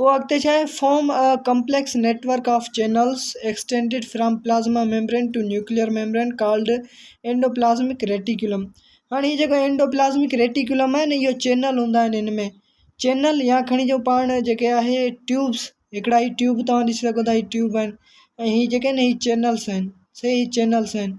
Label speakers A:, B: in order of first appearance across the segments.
A: پوء اڳتي ڇا آهي؟ Form a complex network of channels extended from plasma membrane to nuclear membrane called endoplasmic reticulum هاڻي هي جيڪو اينڊوپلازمڪ ريٽيڪيولم آهي نه اهو چينل هوندا آهن ان ۾ چينل يا کڻي جو پاڻ جيڪي آهي ٽيوبس هڪڙا هي ٽيوب توهان ڏسي سگهو ٿا هي ٽيوب آهن ۽ هي جيڪي آهن هي چينلس آهن سي هي چينلس آهن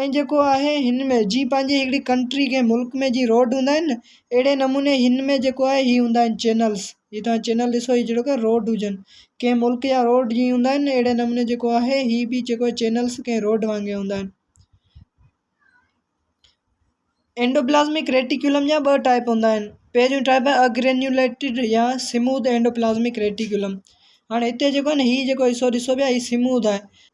A: ۽ جيڪو آهي هن ۾ جيئن پنهنجي هڪڙي ڪنٽري ڪنهن ملڪ ۾ جيئن روڊ هوندا آهن نه اهڙي نموني هن ۾ جيڪو آهي هي هوندا آهن چينلس هي تهان چينل ڏسو هي جهڙوڪ روڊ هجن ڪنهن ملڪ جا روڊ جيئن هوندا آهن اهڙي نموني جيڪو آهي هي به جيڪو آهي چينلس ڪنهن روڊ وانگي هوندا آهن اينڊوپلازمڪ ريٽيڪولم جا ٻه ٽائيپ هوندا آهن پهريون ٽائيپ آهي اگرينيوليٽيڊ يا سموٿ اينڊوپلازمڪ ريٽيڪولم هاڻي هتي جيڪو آهي نه هي جيڪو حصو ڏسو پيا هي سموٿ آهي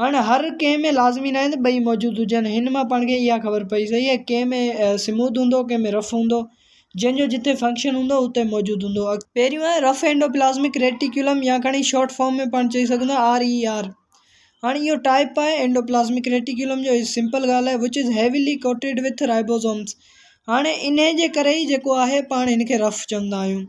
A: هاڻي هر ڪنهن ۾ لازمي ناهي ته ٻئي موجود هجن هن مان پاڻ کي اها خبر پئي سگهي ته ڪنهن ۾ سموٿ هوندو ڪنهن ۾ رف هوندو جنهن جو جتي فنڪشن هوندو اتي موجود هوندو پهريون آهي رف اينڊوپلازمڪ ريٽيڪيولم يا کڻي شارٽ فارم ۾ پاڻ چئي سگهون ٿا آر اي آر هاڻي اهو ٽائپ آهي اينڊوپلازمڪ ريٽيڪيولم جو هي سمپل ڳالهه آهي وچ از هيويلي ڪوٽيڊ وٿ رائبوزومس هاڻي انهي جي ڪري ئي جيڪو آهي پاڻ هن کي رف چوندا آهيون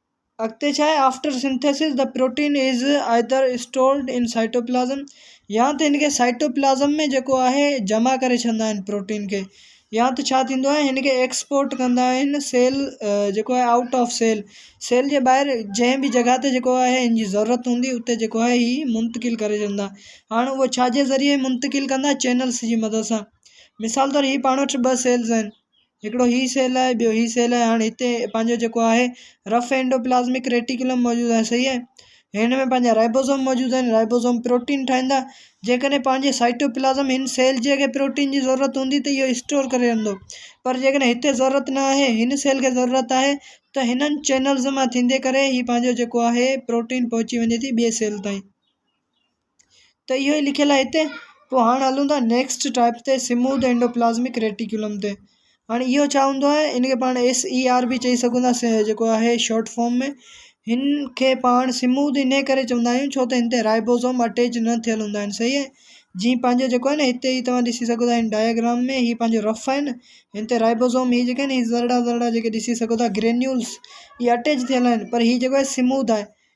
A: اڳتي ڇا آهي after synthesis the protein is either stored in cytoplasm يا ته هن کي سائٽوپلازم ۾ جيڪو آهي جمع ڪري ڇڏيندا آهن پروٽين کي يا ته ڇا ٿيندو آهي هن کي ايڪسپورٽ ڪندا آهن سيل جيڪو آهي آئوٽ آف سيل سيل جي ٻاهر جنهن بي جڳهه تي جيڪو آهي هن جي ضرورت هوندي اتي جيڪو آهي هي منتقل ڪري ڇڏيندا هاڻ هو ڇا جي ذريعي منتقل ڪندا چينلس جي مدد سان مثال طور هي پاڻ وٽ ٻه سيلز آهن هڪڙو هي سيل آهي ٻيو هي سيل آهي هاڻي هتي پنهنجو جيڪو آهي رف اينڊوپلازمڪ ريٽيڪولم موجود آهي صحيح آهي هن ۾ پنهنجا رائبوزوم موجود آهن رائبوزوم پروٽين ٺاهيندا جيڪڏهن پنهنجي سائٽوپلازم هن سيل جي اگي پروٽين جي ضرورت هوندي ته اهو اسٽور ڪري رهندو پر جيڪڏهن هتي ضرورت نه آهي هن سيل کي ضرورت آهي ته هنن چينلز مان ٿيندي ڪري هي پنهنجو جيڪو آهي پروٽين پهچي وڃي ٿي ٻئي سيل تائين ته اهو ئي لکيل آهي هتي پوء هاڻ هلون ٿا نيڪسٽ ٽائپ تي سموٿ اينڊوپلازمڪ ريٽيڪولم تي هاڻي اهو ڇا هوندو آهي ان کي پاڻ ايس اي آر به چئي سگهون ٿا سي جيڪو آهي شارٽ فارم ۾ هن کي پاڻ سموٿ ان ڪري چوندا آهيون ڇو ته هن تي رائبوزوم اٽيچ نه ٿيل هوندا آهن صحيح آهي جي پنهنجو جيڪو آهي نه هتي هي توهان ڏسي سگهو ٿا هن ڊائگرام ۾ هي پنهنجو رف آهن هن تي رائبوزوم هي جيڪي آهن هي ذرڙا ذرڙا جيڪي ڏسي سگهو ٿا گرينيولس هي اٽيچ ٿيل آهن پر هي جيڪو آهي سموٿ آهي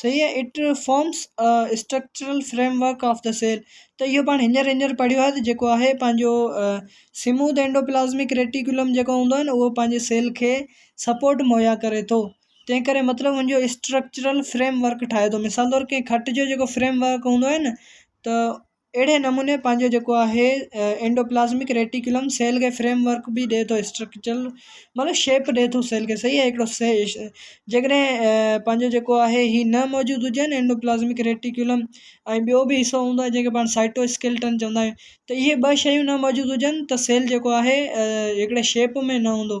A: صحيح آهي it forms a structural framework of the cell ته اهو پاڻ هينئر هينئر پڙهيو آهي ته جيڪو آهي پنهنجو سموٿ اينڊوپلازمڪ ريٽيڪولم جيڪو هوندو آهي اهو پنهنجي سيل کي سپورٽ مهيا ڪري ٿو تنهن ڪري مطلب ان جو اسٽرڪچرل فريم ورڪ ٺاهي ٿو مثال طور ڪنهن کٽ جو جيڪو فريم ورڪ هوندو آهي نه ته اهڙي نموني پنهنجو جيڪو آهي اينڊوپلازمڪ ريٽيڪولم سيل کي فريم ورڪ به ڏئي ٿو اسٽرڪچرل مطلب شيپ ڏئي ٿو سيل کي صحيح آهي هڪڙو جيڪڏهن پنهنجو جيڪو آهي هي نه موجود هجن اينڊوپلازمڪ ريٽيڪولم ۽ ٻيو به حصو هوندو آهي جنهن کي پاڻ سائٽو اسڪيلٽن چوندا آهيون ته اهي ٻه شيون نه موجود هجن ته سيل جيڪو آهي هڪڙي شيپ ۾ نه هوندو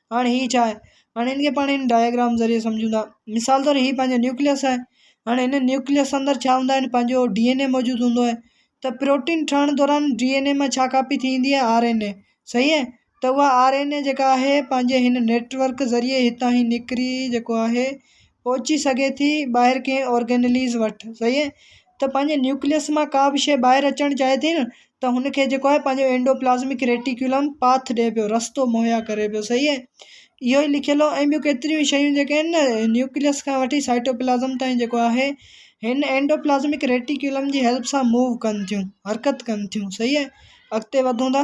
A: هاڻ هي ڇا آهي؟ هاڻ هن کي پاڻ هن ڊائگرام ذريعي سمجهون ٿا. مثال طور هي پنهنجو نيوڪليس آهي. هاڻ هن نيوڪليس اندر ڇا هوندا آهن پنهنجو ڊي اين اي موجود هوندو آهي ته پروٽين ٺهڻ دوران ڊي اين اي مان ڇا ڪاپي ٿي ايندي آهي آر اين اي صحيح آهي ته اها آر اين اي جيڪا آهي پنهنجي هن نيٽ ورڪ ذريعي هتان هي نڪري جيڪو آهي پهچي سگهي ٿي ٻاهر ڪنهن اورگينليز وٽ صحيح آهي ته پنهنجي نيوڪليس مان ڪا به شيء ٻاهر اچڻ چاهي ٿي نه ته هن کي جيڪو آهي پنهنجو اينڊو پلازمڪ ريٽيڪولم پاٿ ڏي پيو رستو مهيا ڪري پيو صحيح اهي اهو ئي لکيل هو ۽ ٻيون ڪيتريون شيون جيڪي آهن نه نيوڪليس کان وٺي سائٽو پلازم تائين جيڪو آهي هن اينڊو پلازمڪ ريٽيڪولم جي هيلپ سان موو ڪن ٿيون حرڪت ڪن ٿيون صحيح اهي اڳتي وڌون ٿا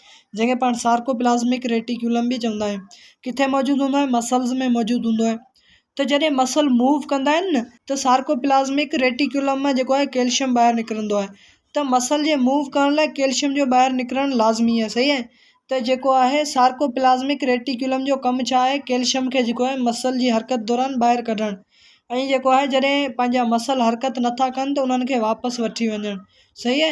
A: جنهن کي پاڻ سارڪوپلازمڪ ريٽيڪيولم به چوندا آهيون ڪٿي موجود هوندو آهي مسلز ۾ موجود هوندو آهي ته جڏهن مسل موو ڪندا آهن نه ته سارڪوپلازمڪ ريٽيڪيولم مان جيڪو آهي ڪيلشم ٻاهر نڪرندو آهي ته مسل جي موو ڪرڻ لاء ڪيلشم جو ٻاهر نڪرڻ لازمي آهي صحيح آهي ته جيڪو آهي سارڪوپلازمڪ ريٽيڪيولم جو ڪم ڇا آهي ڪيلشم کي جيڪو آهي مسل جي حرڪت دوران ٻاهر ڪڍڻ ۽ جيڪو آهي جڏهن پنهنجا مسل حرڪت نٿا ڪن ته انهن کي واپس وٺي وڃڻ صحيح آهي